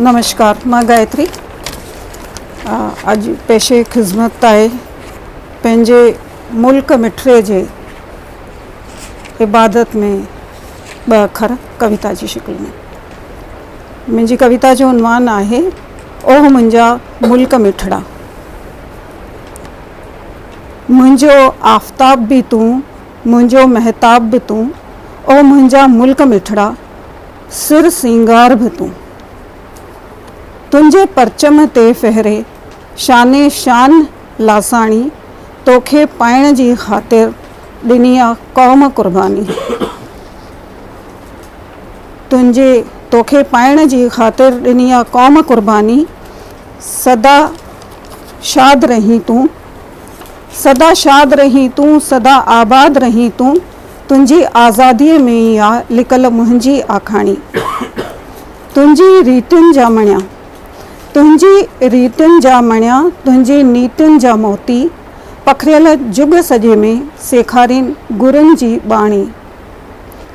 نمشڪار مان گائتري اڄ پيشي خدمت آهي پنهنجي ملڪ مٺري جي عبادت ۾ ٻه اکر ڪويتا جي شڪل ۾ منهنجي ڪويتا جو عنوان آهي اوه منهنجا ملڪ مٺڙا منهنجو آفتاب به تون منهنجو مهتاب به تون، او منهنجا ملڪ مٺڙا، سر سينگار به تون. تنهنجي پرچم تي ڦهري، شان شان لاصاڻي، توکي پائڻ جي خاطر، ڏني آ قوم قرباني. تنهنجي توکي پائڻ جي خاطر، ڏني آ قوم قرباني. سدا شاد رهين تون، سدا شاد رهين تون سدا آباد رهين تون تنهنجي آزاديء ۾ ئي آ لڪل منهنجي آکاڻي تنهنجي ريٽن جا مڻيا تنهنجي ريٽن جا مڻيا تنهنجي نيٽن جا موتي پکڙيل جڳ سڄي ۾ سيکارين گرن جي ٻاڻي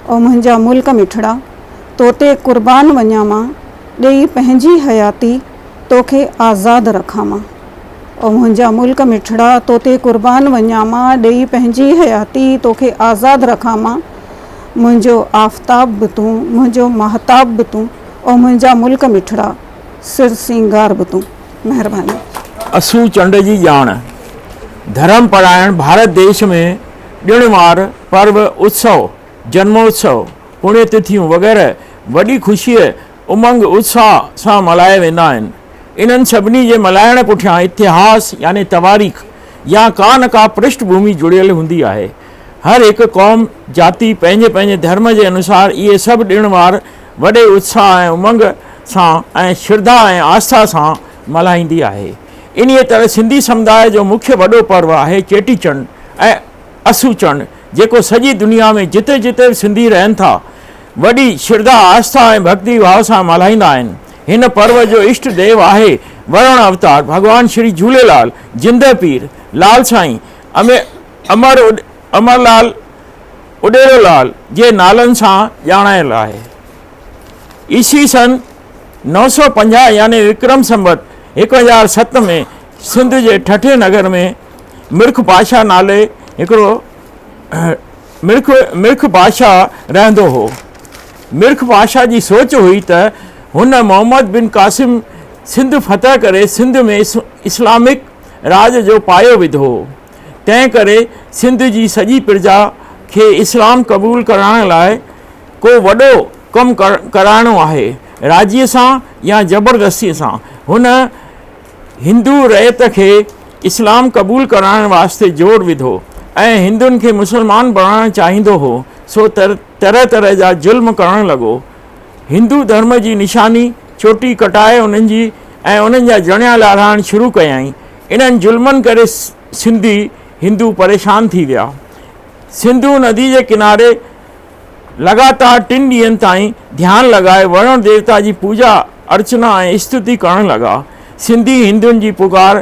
او منهنجا ملڪ مٺڙا توتي قربان وڃان مان ڏيئي پنهنجي حياتي توکي آزاد رکان مان، او منهنجا ملڪ مٺڙا، تو تي قربان وڃان مان، ڏيئي پنهنجي حياتي، توکي آزاد رکان مان، منهنجو آفتاب به تون، منهنجو ماهتاب به تون، او منهنجا ملڪ مٺڙا، سر سينگار به تون. مهرباني. اسو چنڊ جي ڄاڻ، ڌرم پرايڻ ڀارت ديش ۾ ڏڻ وار، پرو، اتسو، جنموتسو، پڻيتٿيون وغيره وڏي خوشيء، امنگ اتساهه سان ملهايا ويندا آهن. انهن سڀني جي ملهائڻ پٺيان اتهاس يعني تواريخ يا ڪا نه ڪا پرشٺ ڀومي جڙيل هوندي آهي. هر هڪ قوم، جاتي پنهنجي پنهنجي ڌرم جي انوسار اهي سڀ ڏڻ وار وڏي اتساهه ۽ امنگ سان ۽ شرڌا ۽ آسٿا سان ملهائيندي آهي. انهيء طرح سنڌي سمداء جو مکيه وڏو پرو آهي چيٽي چنڊ ۽ اسو چنڊ جيڪو سڄي دنيا ۾ جتي جتي به سنڌي رهن ٿا وڏي شرڌا، آسٿا ۽ ڀڳتي ڀاء سان ملهائيندا آهن. هن پرو جو اشٽ ديو آهي ورڻ اوتار ڀڳوان شري جهوليلال، جندهه پير، لال سائين، امر امرلال، اڏيرو لال جي نالن سان ڄاڻايل آهي. عيسوي سن نو سؤ پنجاهه يعني وڪرم سنوت هڪ هزار ست ۾ سنڌ جي ٺٽي نگر ۾ مرک پاشا نالي هڪڙو مرک مرک بادشاهه رهندو هو. مرک بادشاهه جي سوچ هئي ته هن محمد بن قاسم سنڌ فتح ڪري سنڌ ۾ اسلامڪ راڄ جو پايو وڌو. تنهن ڪري سنڌ جي سڄي پرجا کي اسلام قبول ڪرائڻ لاء ڪو وڏو ڪم ڪرائڻو آهي راضي سان يا زبردستي سان. هن هندو رعيت کي اسلام قبول ڪرائڻ واسطي زور وڌو ۽ هندن کي مسلمان بڻائڻ چاهيندو هو سو طرح طرح جا ظلم ڪرڻ لڳو. هندو ڌرم جي نشاني چوٽي ڪٽائي انهن جي ۽ انهن جا جڻيا لاڙائڻ شروع ڪيائين. انهن ظلمن ڪري سنڌي هندو پريشان ٿي ويا. سنڌو ندي جي ڪناري لڳاتار ٽن ڏينهن تائين ڌيان لڳائي ورڻ ديوتا جي پوڄا ارچنا ۽ استتي ڪرڻ لڳا. سنڌي هندن جي پڪار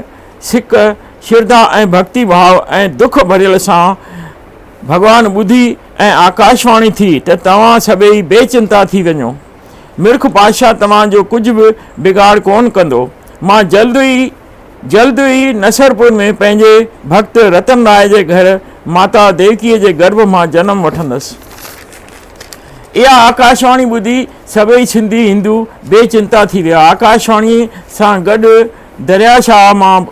سڪ، شرڌا ۽ ڀڳتي ڀاء ۽ دک ڀريل سان ڀڳوان ٻڌي ۽ آڪاشواڻي ٿي ته توهان سڀيئي بي چنتا ٿي وڃو. مرک پادشاهه توهان جو ڪجهه به بگاڙ ڪونه ڪندو. مان جلد ئي. جلد ئي نصرپور ۾ پنهنجي ڀڳت رتن راء جي گهر ماتا ديوڪيء جي گرڀ مان جنم وٺندس. اها آڪاشواڻي ٻڌي سڀئي سنڌي هندو بي چنتا ٿي ويا. آڪاشواڻيء سان گڏ دريا شاهه مان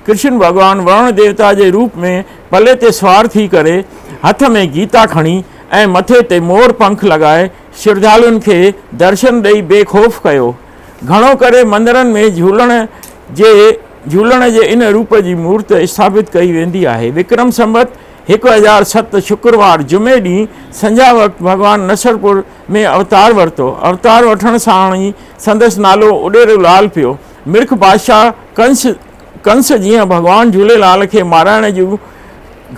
ڪرشن ڀڳوان ورڻ ديوتا جي روپ ۾ پلي تي سوار ٿي ڪري، هٿ ۾ گيتا کڻي ۽ مٿي تي مور پنک لڳائي شرڌالوئن کي درشن ڏئي بي خوف ڪيو. گهڻو ڪري مندرن ۾ جهولڻ جي جهولڻ جي ان روپ جي مورت اسٿاپت ڪئي ويندي آهي. وڪرم سنوت هڪ هزار ست شڪروار جمعي ڏينهن سنجهاء وقت ڀڳوان نصرپور ۾ اوتار ورتو. اوتار وٺڻ ساڻ ئي سندس نالو اڏيرو لال پيو. مرک بادشاهه ڪنس ڪنس جيئن ڀڳوان جهوليلال کي مارائڻ جون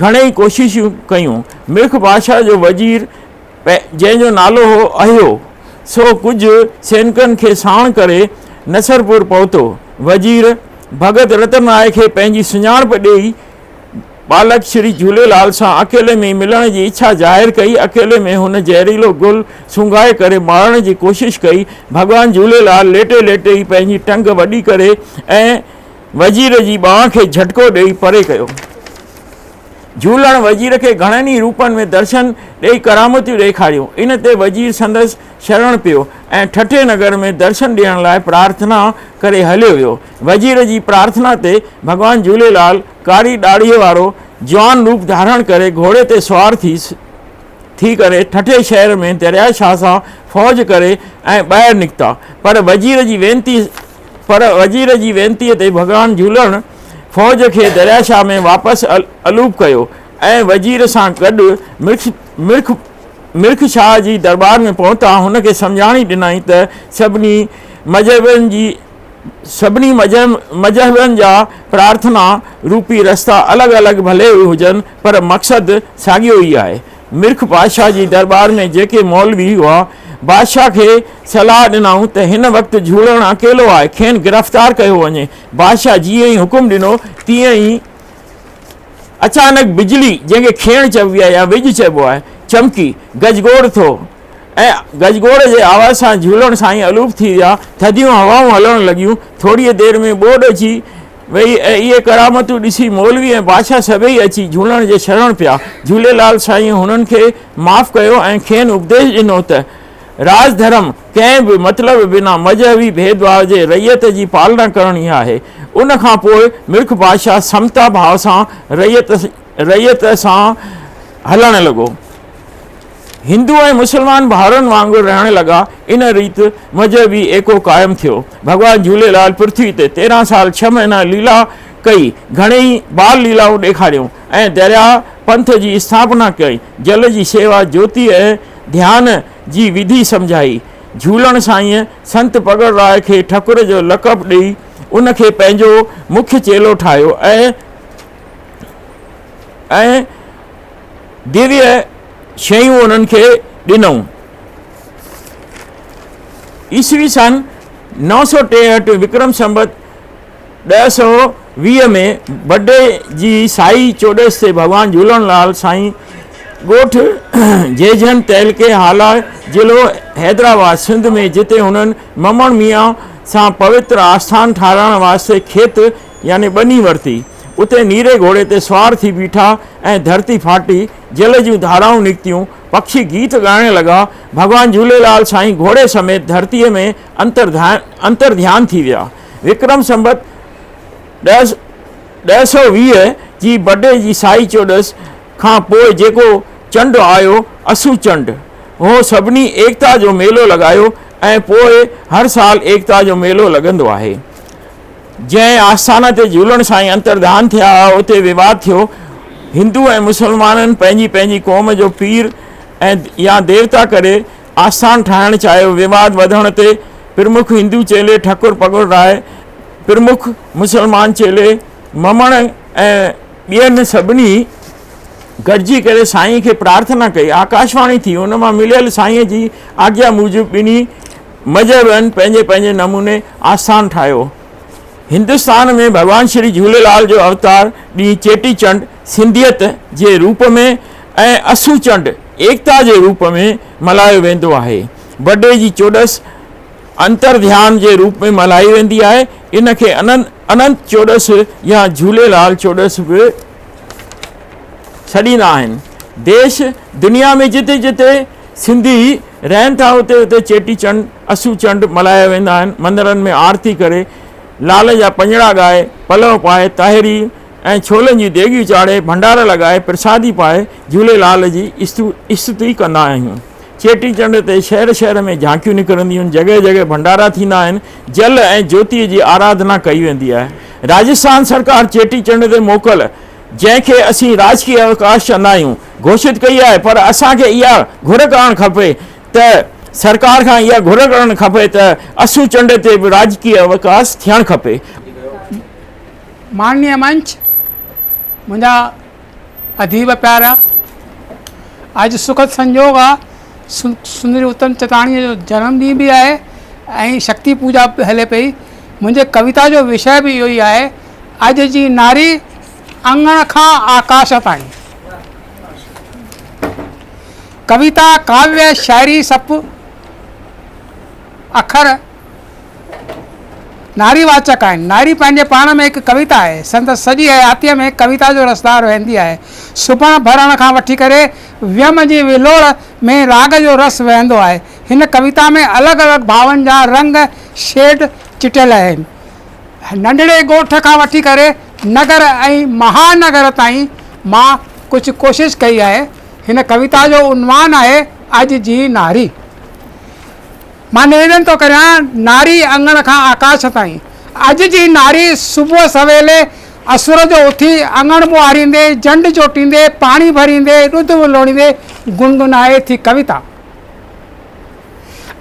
گهڻيئي ڪوششون ڪيون. مرک بادشاهه جو وزير جنهن جو نالو هو اهيو، سو ڪجهه سينڪن کي ساڻ ڪري نصرپور پهتو. وزير ڀڳت رتن راء کي پنهنجي سڃاڻپ ڏيئي ٻالڪ شري جهوليلال سان اڪيلي ۾ ئي ملڻ جي اڇا ظاهر ڪئي. اڪيلي ۾ هن زهريلو گل سونگهائي ڪري مارڻ جي ڪوشش ڪئي. ڀڳوان جهوليلال ليٽي ليٽي ئي پنهنجي ٽنگ وڏي ڪري ۽ وزير جي ٻانهن کي جهٽڪو ڏيئي پري ڪيو. جهولڻ وزير کي گهڻن ئي روپن ۾ درشن ڏئي ڪرامتيون ڏيکاريون. ان تي وزير سندس شرڻ پيو ۽ ٺٽي نگر ۾ درشن ڏيڻ لاء پرارٿنا ڪري هليو ويو. وزير جي پرارٿنا تي ڀڳوان جهوليلال ڪاري ڏاڙهيء وارو جوان روپ ڌارڻ ڪري گهوڙي تي سوار ٿي ٿي ڪري ٺٽي شهر ۾ دريا شاهه سان فوج ڪري ۽ ٻاهر نڪتا پر وزير جي وينتي پر وزير جي وينتيء تي ڀڳوان جهولڻ فوج کي درياشاهه ۾ واپس الوپ ڪيو ۽ وزير سان گڏ مرک مرک شاهه جي درٻار ۾ پهتا هن کي سمجهاڻي ڏنائين ته سڀني مذهبين جي سڀني مذهبين جا پرارٿنا روپي رستا الڳ الڳ ڀلي هجن پر مقصد ساڳيو ئي آهي مرک بادشاهه جي درٻار ۾ جيڪي مولوي هئا، بادشاهه کي صلاح ڏنائون ته هن وقت جهولڻ اڪيلو آهي، کين گرفتار ڪيو وڃي. بادشاهه جيئن ئي حڪم ڏنو، تيئن ئي اچانڪ بجلي، جنهن کي کيڻ چئبي آهي يا وڄ چئبو آهي، چمڪي، گجگوڙ ٿو ۽ گجگوڙ جي آواز سان جهولڻ سائين الوپ ٿي ويا، ٿڌيون هوائون هلڻ لڳيون، ٿوريء دير ۾ ٻوڏ اچي ويئي ۽ اهي ڪرامتون ڏسي مولوي ۽ بادشاهه سڀيئي اچي جهولڻ جي شرڻ پيا. جهوليلال سائينء هنن کي معاف ڪيو ۽ کين اپديش ڏنو ته راج ڌرم ڪنهن به مطلب بنا مذهبي ڀيدڀاء جي رعيت جي پالنا ڪرڻي آهي. ان کان پوء ملڪ بادشاهه سمتا ڀاء سان رعيت رعيت سان هلڻ لڳو. هندو ۽ مسلمان ڀائرن وانگر رهڻ لڳا. ان ريت مذهبي ايڪو قائم ٿيو. ڀڳوان جهوليلال پرٿوي تي تيرهن سال ڇهه مهينا ليلا ڪئي، گهڻيئي بال ليلائون ڏيکاريون ۽ درياء پنٿ جي اسٿاپنا ڪئي، جل جي سيوا، جوتي ۽ ڌيان جي وڌي سمجهائي. جهولڻ سائينء سنت پڳڙ راء کي ٺڪر جو لقب ڏئي ان کي پنهنجو مکيه چيلو ٺاهيو ۽ ديويه شيون انهن کي ڏنئون. عيسوي سن نو سؤ ٽيهٺ وڪرم سنوت ڏهه سؤ ويهه ۾ بڊي جي سائي چوڏس تي ڀڳوان جهولڻ لال سائين ڳوٺ جيجهن تعلقي هالا ضلعو حيدرآباد سنڌ ۾ جتي هنن ممڻ ميان سان پوتر آسٿان ٺاهرائڻ واسطي کيت يعني ٻني ورتي اتي نيري گهوڙي تي سوار ٿي بيٺا ۽ ڌرتي ڦاٽي، جل جون ڌارائون نڪتيون، پکي گيت ڳائڻ لڳا، ڀڳوان جهوليلال سائين گهوڙي سميت ڌرتيء ۾ انتر ڌيان ٿي ويا. وڪرم سنبت ڏهه سؤ ويهه جي بڊي جي سائي چوڏس کان پوء جيڪو چنڊ آيو، اسو چنڊ، هو سڀني ايڪتا جو ميلو لڳايو ۽ پوء هر سال ايڪتا جو ميلو لڳندو آهي. جنهن آستان تي جهولڻ سائين انترڌان ٿيا هئا، اتي ويواد ٿيو. هندو ۽ مسلمانن پنهنجي پنهنجي قوم جو پير ۽ يا ديوتا ڪري آستان ٺاهڻ چاهيو. ويواد وڌڻ تي پرمک هندو چيلي ٺڪر پڳڙ راء، پرمک مسلمان چيلي ممڻ ۽ ٻين سڀني گڏجي ڪري سائين کي پرارٿنا ڪئي. آڪاشواڻي ٿي، ان مان مليل سائين جي آگيا موجب ٻنهي مذهبن پنهنجي پنهنجي نموني آستان ٺاهيو. هندستان ۾ ڀڳوان شري جهوليلال جو اوتار ڏينهن چيٽي چنڊ سنڌيت جي روپ ۾ ۽ اسو چنڊ ايڪتا جي روپ ۾ ملهايو ويندو آهي. بڊي جي چوڏس انترڌيان جي روپ ۾ ملهائي ويندي آهي. ان کي اننت چوڏس يا جهوليلال چوڏس به سڏيندا آهن. ديش دنيا ۾ جتي جتي سنڌي رهن ٿا اتي اتي چيٽي چنڊ اسو چنڊ ملهايا ويندا آهن مندرن ۾ آرتي ڪري لال جا پڃڙا ڳائي پلو پائي تاهيري ۽ ڇولن جون ديڳيون چاڙهي ڀنڊار لڳائي پرسادي پائي جهولي لال جي استتي ڪندا آهيون چيٽي چنڊ تي شهر شهر ۾ جهانڪيون نڪرنديون جڳهه جڳهه ڀنڊارا ٿيندا آهن جل ۽ جوتي جي آراڌنا ڪئي ويندي آهي راجسٿان سرڪار چيٽي چنڊ تي موڪل جنهن کي اسين راجڪي اوڪاش چوندا آهيون، گهوشت ڪئي آهي پر اسان کي اها گهر ڪرڻ کپي ته سرڪار کان اها گهر ڪرڻ کپي ته اسو چنڊ تي به راجڪي اوڪاش ٿيڻ کپي. ماڻني منچ منهنجا اديب پيارا اڄ سکد سنجوڳ آ سندري اتم چتاڻي جو جنم ڏينهن به آهي ۽ شڪتي پوڄا به هلي پئي منهنجي ڪويتا جو وشيه به اهو ئي آهي اڄ جي ناري اڱڻ کان آڪاش تائين ڪويتا، ڪاويء، شاعري سڀ اکر ناري واچڪ آهن. ناري پنهنجي پاڻ ۾ هڪ ڪويتا آهي. سندس سڄي حياتيء ۾ ڪويتا جو رسدار وهندي آهي. سبڻ ڀرڻ کان وٺي ڪري ويم جي ولوڙ ۾ راڳ جو رس وهندو آهي. هن ڪويتا ۾ الڳ الڳ ڀاون جا رنگ، شيڊ، چٽيل آهن. ننڍڙي ڳوٺ کان وٺي ڪري نگر ۽ مها نگر تائين مان ڪجهه ڪوشش ڪئي آهي. هن ڪويتا جو عنوان آهي اڄ جي ناري. مان نويدن ٿو ڪريان ناري اڱڻ کان آڪاش تائين. اڄ جي ناري صبح سويلي اسور جو اٿي اڱڻ ٻوهاريندي، جنڊ جوٽيندي، پاڻي ڀريندي، ڏڌ ولوڙيندي گنگنائي ٿي ڪويتا.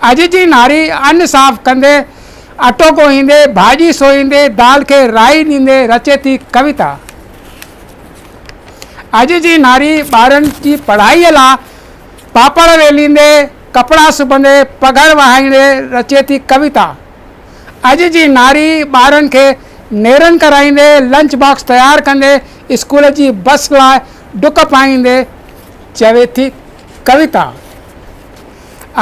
اڄ جي ناري ان صاف ڪندي، اٽو ڳوهيندي، ڀاڄي سوئيندي، دال کي رائي ڏيندي رچي ٿي ڪويتا. اڄ جي ناري ٻارن جي پڙهائي لا پاپڙ ويليندي، ڪپڙا سبندي، پگهر وهائيندي رچي ٿي ڪويتا. اڄ جي ناري ٻارن کي نيرن ڪرائيندي، لنچ باڪس تيار ڪندي، اسڪول جي بس لا ڊڪ پائيندي چوي ٿي ڪويتا.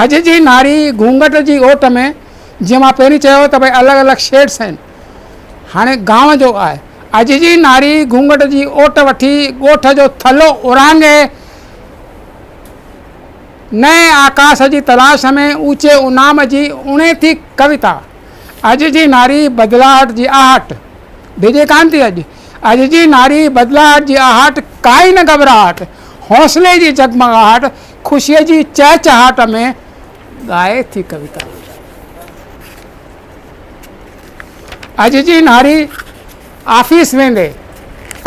اڄ جي ناري گهونگهٽ جي اوٽ ۾ جيئن مان پهرين چيو ته ڀئي الڳ الڳ شيڊس آهن هاڻي گانء جو آهي اڄ جي ناري گهونگهٽ جي اوٽ وٺي ڳوٺ جو ٿلهو اورانگهي نئين آڪاس جي تلاش ۾ اوچي انعام جي اڻي ٿي ڪويتا اڄ جي ناري بدلاهٽ جي آهٽ ڊڄي ڪانه ٿي اڄ اڄ جي ناري بدلاهٽ جي آهٽ ڪائي نه گهٻراهٽ حوصلي جي جڳمڳاهٽ خوشيء جي چهچهاٽ ۾ ڳائي ٿي ڪويتا. اڄ جي ناري آفيس ويندي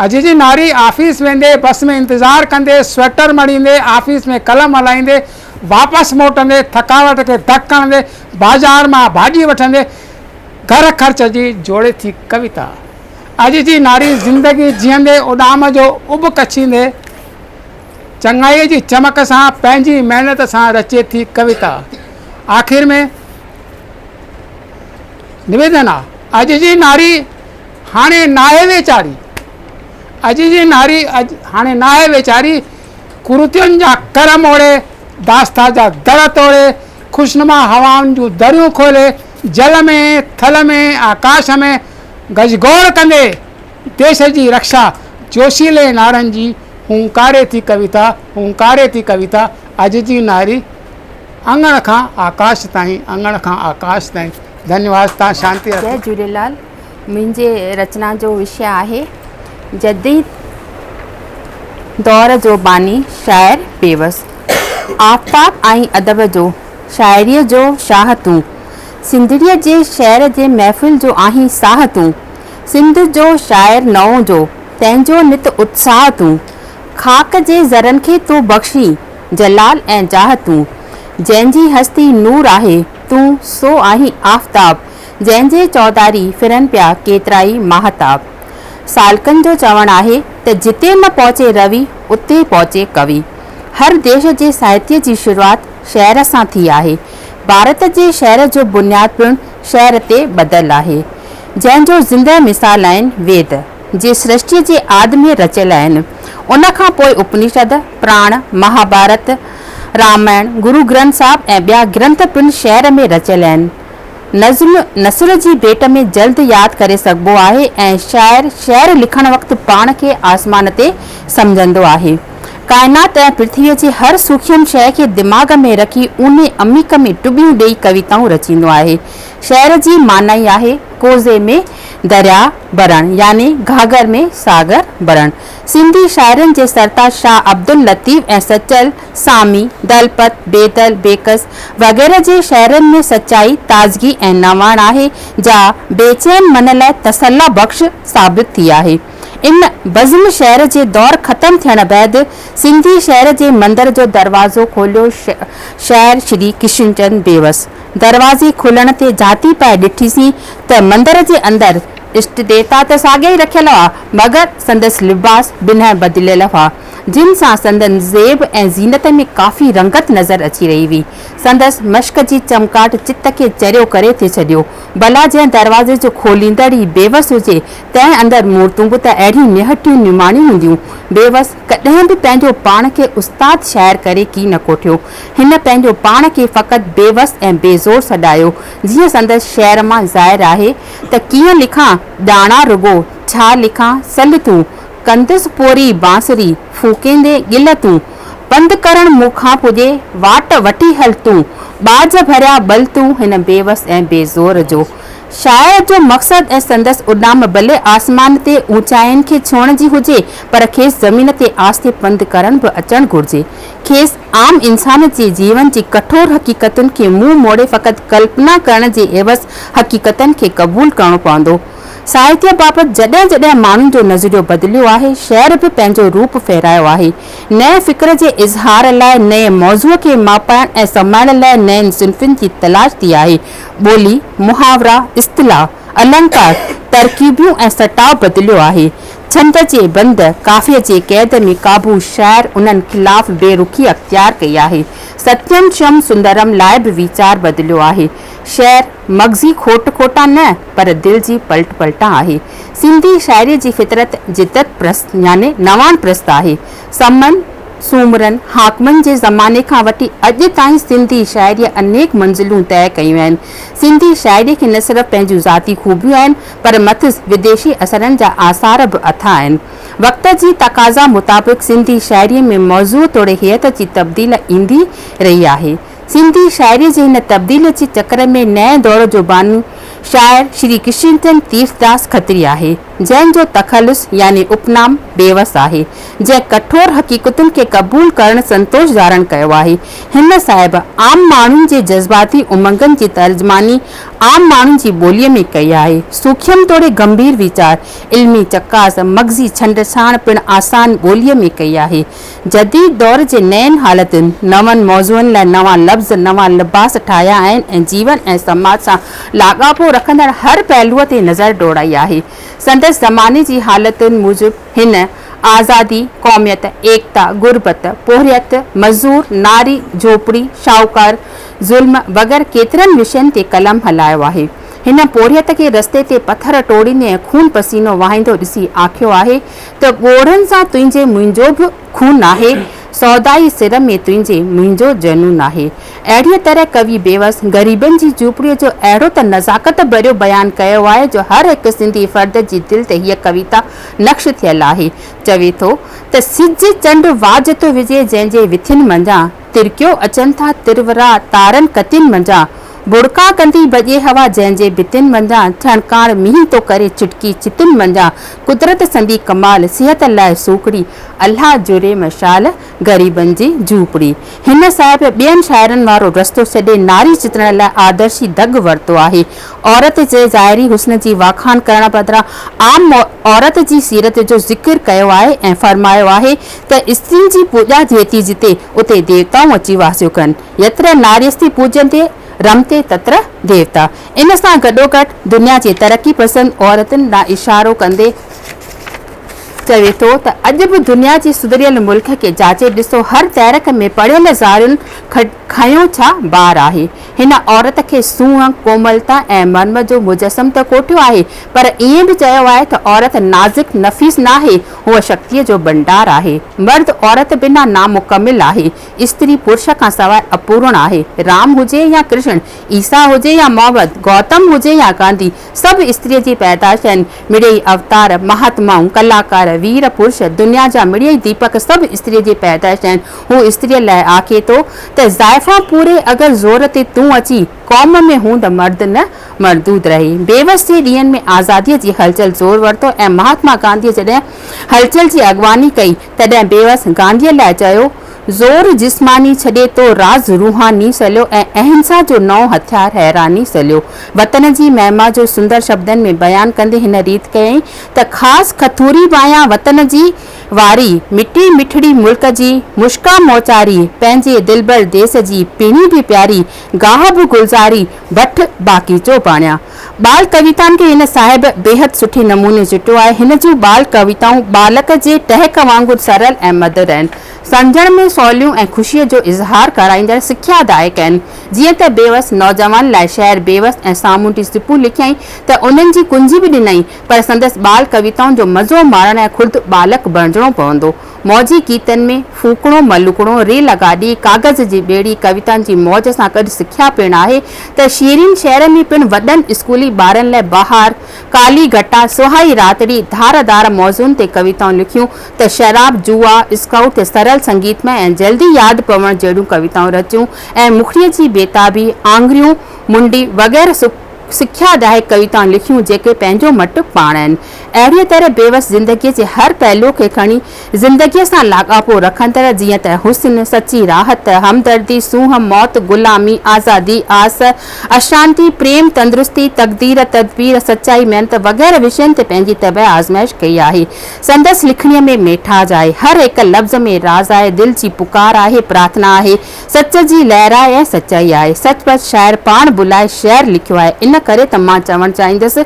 اڄ جي ناري آفيس ويندي بس ۾ انتظار ڪندي سوئٽر مڙيندي آفيس ۾ قلم هلائيندي واپس موٽندي ٿڪاوٽ کي ڌڪ هڻندي بازار مان ڀاڄي وٺندي گهر خرچ جي جوڙي ٿي ڪويتا. اڄ جي ناري زندگي جيئندي اڏام جو اڀ ڪڇيندي. چڱائيء جي چمڪ سان پنهنجي محنت سان رچي ٿي ڪويتا. آخر ۾ نويدن آ. اڄ جي ناري هاڻي ناهي ويچاري. اڄ جي ناري هاڻي ناهي ويچاري. ڪرتين جا ڪر موڙي، داستا جا در ٽوڙي، خوشنما هوائن جون دريون کولي، جل ۾، ٿل ۾، آڪاش ۾، گجگوڙ ڪندي، ديش جي رڪشا جوشيلي نعرن جي هونڪاري ٿي ڪويتا، هونڪاري ٿي ڪويتا، اڄ جي نعري اڱڻ کان آڪاش تائين، اڱڻ کان آڪاش تائين. ڌنيواد تان شانتي رکو. جي جهوليلال منهنجي رچنا جو وشي آهي جديد دور جو باني شاعر بيوس آفتاب ۽ ادب جو شاعري جو شاهه تون سنڌڙي جي شعر جي محفل جو آهين ساهه تون سنڌ جو شاعر نئون جو، تنهن جو نت اتساهه تون. خاڪ جي ذرن کي تو بخشي، جلال ۽ جاهه تون. جنهن جي هستي نور آهي، تون سو آهين آفتاب. جنهن جي چوڌاري ڦرن پيا ڪيترائي ماهتاب. سالڪن جو چوڻ آهي ته جتي نه پهچي روي، اتي پهچي ڪوي. هر ديش جي ساهتيه جي شروعات شعر سان ٿي آهي. ڀارت جي شعر جو بنياد پڻ شعر تي ٻڌل آهي. جنهن جو زندهه مثال آهن ويد، جي سرشٽيء جي آد ۾ رچيل آهن. ان کان پوء اپنيشد، پراڻ، مهاڀارت، رامائڻ، گرو گرنٿ صاحب ۽ ٻيا گرنٿ پڻ شعر ۾ رچيل آهن. نظم نثر جي ڀيٽ ۾ جلد ياد ڪري سگهبو آهي ۽ شاعر شعر لکڻ وقت پاڻ کي آسمان تي سمجهندو آهي. ڪائنات ۽ پرٿويء جي هر سوکيم شيء کي دماغ ۾ رکي اونهي عميق ۾ ٽٻيون ڏيئي ڪويتائون رچيندو آهي. شعر جي معنائي آهي ڪوزي ۾ درياء ڀرڻ يعني گهاگهر ۾ ساگر ڀرڻ. سنڌي شاعرن جي سرتاج شاهه عبداللطيف ۽ سچل، سامي، دلپت، بيدل، بيڪس وغيره جي شعرن ۾ سچائي، تازگي ۽ نواڻ آهي جا بي چين من لاء تسلّ بخش ثابت ٿي آهي. ان بزم شعر جي دور ختم ٿيڻ بعد سنڌي شعر جي مندر جو دروازو کوليو شاعر شري ڪشن چند بيوس دروازي کولڻ تي جهاتي پئي ڏٺيسين ته مندر جي اندر اشٽ ديوتا ته ساڳيا ئي رکيل هئا، مگر سندس لباس بنهه بدليل هئا، جن سان سندن زيب ۽ زينت ۾ ڪافي رنگت نظر اچي رهي هئي. سندس مشڪ جي چمڪاٽ چت کي چريو ڪري ٿي ڇڏيو. ڀلا جنهن دروازي جو کوليندڙ ئي بيوس هجي، تنهن اندر مورتون به ته اهڙيون نهٺيون نماڻيون هونديون. بيوس ڪڏهن به پنهنجو پاڻ کي استاد شاعر ڪري ڪي نه ڪوٺيو. هن پنهنجو پاڻ کي فقط بيوس ۽ بي زور سڏايو، جيئن سندس شعر مان ظاهر آهي ته ڪيئن لکان ڄاڻان رڳو، ڇا لکان سل تون، ڪندس پوري بانسري، ڦوڪيندي ڳل تون، پنڌ ڪرڻ مون کان پڄي، واٽ وٺي هل تون، ٻاجهه ڀريا ٻل تون هن بيوس ۽ بي زور جو شاعر جو مقصد ۽ سندس اڏام ڀلي آسمان تي اوچائين کي ڇهڻ جي هجي پر کيس زمين تي آهستي پنڌ ڪرڻ به اچڻ گهرجي، کيس عام انسان جي جيون جي ڪٺور حقيقتن کي منهن موڙي فقط ڪلپنا ڪرڻ جي عيوض حقيقتن کي قبول ڪرڻو پوندو. ساهتيه بابت جڏهن جڏهن ماڻهن جو نظريو بدليو آهي، شعر به پنهنجو روپ ڦيرايو آهي. نئين فڪر جي اظهار لاء نئين موضوع کي ماپائڻ ۽ سمائڻ لاء نين صنفن جي تلاش ٿي آهي. ٻولي، محاورا، اصطلاح، النڪار، ترڪيبيون ۽ سٽاء بدليو آهي. ڇنڊ جي بند، ڪافيء جي قيد ۾ ڪابه شاعر انهن خلاف بي رخي اختيار ڪئي آهي. ستيم شيوم سندرم لاء به ويچار بدليو آهي. شعر، مغزي کوٽ کوٽان نه، پر دل جي پلٽ پلٽان آهي. سنڌي شاعريء جي فطرت جدت پرست يعني نواڻ پرست آهي. سمن، سومرن، حاڪمن جي زماني کان وٺي اڄ تائين سنڌي شاعريء انيڪ منزلون طئي ڪيون آهن. سنڌي شاعريء کي نه صرف پنهنجون ذاتي خوبيون آهن، پر مٿس وديشي اثرن جا آثار به اٿا آهن. وقت جي تقاضا مطابق سنڌي شاعريء ۾ موضوع توڙي هيئت جي تبديل ايندي رهي آهي. سنڌي شاعريء جي هن تبديل جي چڪر ۾ نئين دور جو باني شاعر شري ڪشنچند تيرٿداس کتري آهي، جنهن جو تخلص يعني اپنام بيوس آهي، جنهن ڪٺور حقيقتن کي قبول ڪرڻ سنتوش ڌارڻ ڪيو آهي. هن صاحب عام ماڻهن جي جذباتي امنگن جي ترجماني عام ماڻهن جي ٻوليء ۾ ڪئي آهي. سوکيم توڙي گنڀير ويچار، علمي چڪاس، مغزي ڇنڊڇاڻ پڻ آسان ٻوليء ۾ ڪئي آهي. جديد دور جي نين حالتن، نون موضوعن لاء نوان لفظ، نوان لباس ٺاهيا آهن ۽ جيون ۽ سماج سان لاڳاپو رکندڙ هر پهلوء تي نظر ڊوڙائي آهي. سندس زماني جي حالتن موجب هن آزادي، قوميت، ايڪتا، غربت، پورهيت، مزور، ناري، جهوپڙي، شاهوڪار، ظلم وغيره ڪيترن وشين تي قلم هلايو آهي. هن پورهيت کي رستي تي پٿر ٽوڙيندي ۽ خون پسينو وهائيندو ڏسي آکيو آهي ته ڳوڙهن سان تنهنجي منهنجو به خون آهي، سودائي سر ۾ تنهنجي منهنجو جنون آهي. اهڙيء طرح ڪوي بيوس غريبن جي جهوپڙيء جو اهڙو ته نزاڪت ڀريو بيان ڪيو آهي جو هر هڪ سنڌي فرد جي دل تي هيء ڪويتا نقش ٿيل آهي. چوي ٿو ته سج چنڊ واجهه ٿو وجهي جنهن جي وٿين منجهان. ترڪيو اچن ٿا ترورا تارن ڪتين منجهان ڀڙڪا ڪندي ڀڄي هوا جنهن جي ڀتين منجهان ڇڻڪاڻ مينهن ٿو ڪري ڇٽڪي ڇتين منجهان قدرت سندي ڪمال صحت لاء سوکڙي الله جڙي مشال غريبن جي جهوپڙي هن صاحب ٻين شاعرن وارو رستو ڇڏي ناري چترڻ لاء آدرشي ڍڳ ورتو آهي عورت جي ظاهري حسن جي واکاڻ ڪرڻ بدران عام عورت جي سيرت جو ذڪر ڪيو آهي ۽ فرمايو آهي ته استرين جي پوڄا ٿئي ٿي جتي، اتي ديوتائون اچي واسيو ڪن. يتر ناريستي پوڄيندي رمتي تتر ديوتا. ان سان گڏوگڏ دنيا جي ترقي پسند عورتن ڏانهن اشارو ڪندي چوي ٿو ته اڄ به دنيا جي سڌريل ملڪ کي جاچي ڏسو هر تحرڪ ۾ پڙهيل زارين کنيو ڇا بار آهي. هن عورت کي سونهن، ڪوملتا ۽ مرم جو مجسم ته ڪوٺيو آهي پر ائين به چيو آهي ته عورت نازڪ نفيس ناهي، هوء شڪتيء جو ڀنڊار آهي. مرد عورت بنا نامڪمل آهي. استري پرش کان سواء اپورڻ آهي. رام هجي يا ڪرشڻ، عيسيٰ هجي يا محمد، گوتم هجي يا گانڌي، سڀ استريء جي پيدائش آهن. مڙيئي اوتار، مهاتمائون، ڪلاڪار، وير پرش، دنيا جا مڙيئي ديپڪ سڀ استريء جي پيدائش آهن. هو استريء لاء آکي ٿو ته زائفان پوري اگر زور تي تون اچي، قوم ۾ هون ته مرد نه مردود رهي. بيوس جي ڏينهن ۾ آزاديء جي هلچل زور ورتو ۽ مهاتما گانڌيء جڏهن هلچل جي اڳواڻي ڪئي، تڏهن بيوس گانڌيء لاء چيو، زور جسماني ڇڏي تو راز روحاني سليو ۽ اهنسا جو نئون هٿيار حيراني سليو. وطن جي مهما جو سندر شبدن ۾ بيان ڪندي هن ريت ڪيائين ته خاص کٿوري بايان وطن جي واري، مٽي مٺڙي ملڪ جي مشڪان موچاري، پنهنجي دلبر ديس جي پيڻي به پياري، گاهه به گلزاري بٺ باغيچو بڻيا. ٻال ڪويتائن کي هن صاحب بيحد سٺي نموني چٽيو آهي. هن جون ٻال ڪويتائون ٻالڪ جي ٽهڪ وانگر سرل ۽ مڌر آهن. سمجهڻ ۾ سوليون ۽ خوشيء جو اظهار ڪرائيندڙ سکيا دائڪ آهن. جيئن ته بيوس نوجوان لاء شعر بيوس ۽ سامونڊي سپون لکيائين ته انهن جي ڪنجي به ڏنائين پر سندس ٻال ڪويتائن جو مزو ماڻڻ لاء خود ٻالڪ بڻجڻو پوندو. موجي گيتن ۾ ڦوڪڻو، ملوڪڻو، ريل گاڏي، ڪاغذ جي ٻيڙي ڪويتائن جي موج سان گڏ سکيا پڻ آهي ته شيرين شعر ۾ پڻ وڏن اسڪولي ٻارن لاء بهار، ڪالي گهٽا، سهائي راتڙي، ڌار ڌار موضوعن تي ڪويتائون لکيون ته شراب، جوا، اسڪائوٽ تي سرل سنگيتمئي ۽ جلدي ياد پوڻ جهڙيون ڪويتائون رچيون ۽ مکڙيء جي بيتابي، آڱريون، منڊي وغيره سڀ سکيا ڏائي ڪويتائون لکيون جيڪي پنهنجو مٽ پاڻ آهن. اهڙيء طرح بيوس زندگيء جي هر پهلو کي کڻي زندگيء سان لاڳاپو رکندڙ جيئن ته حسن، سچي راحت، همدردي، سونهن، موت، غلامي، آزادي، آس، اشانتي، پريم، تندرستي، تقدير، تدبير، سچائي، محنت وغيره وشين تي پنهنجي طبع آزمائش ڪئي آهي. سندس لکڻيء ۾ ميٺاج آهي. هر هڪ لفظ ۾ راز آهي، دل جي پڪار آهي، پرارٿنا آهي، سچ جي لهرائي ۽ سچائي آهي. سچ پچ شاعر پاڻ به لاء شعر لکيو آهي. ان ڪري ته مان چوڻ چاهيندس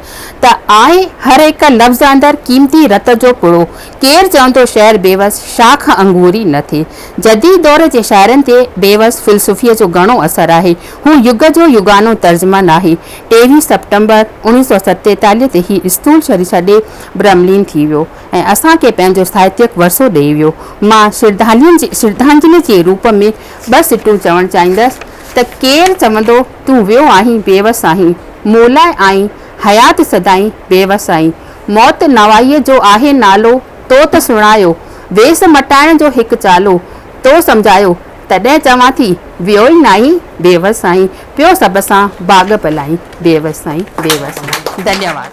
ته آهي هر هڪ لفظ اندر قيمتي رت جو پڙو. ڪير چوندو شعر بيوس شاخ انگوري نه ٿئي. جديد دور جي شاعرن تي بيوس فلسفي جو گهڻو اثر آهي. هو يگ جو يگانو ترجمان آهي. ٽيويهه سيپٽمبر اوڻيهه سؤ ستيتاليهه تي هي اسٿول شرير ڇڏي برهملين ٿي ويو. ۽ اسان کي پنهنجو ساهتيڪ ورثو ڏئي ويو. مان شرڌانجلي جي روپ ۾ ٻه سٽون چوڻ چاهيندس ته ڪير چوندو تون ويو آهين بي وس آهين مولاء آئين حيات سدائين بي وس آئين موت نوائيء جو آهي نالو تو ته سڻايو ويس مٽائڻ جو هڪ چالو تو سمجهايو تڏهن چوان ٿي ويو ئي ناهين بي وس آئين پيو سڀ سان باغ پلائين بي وس آئين بي وس آئين ڌنيواد.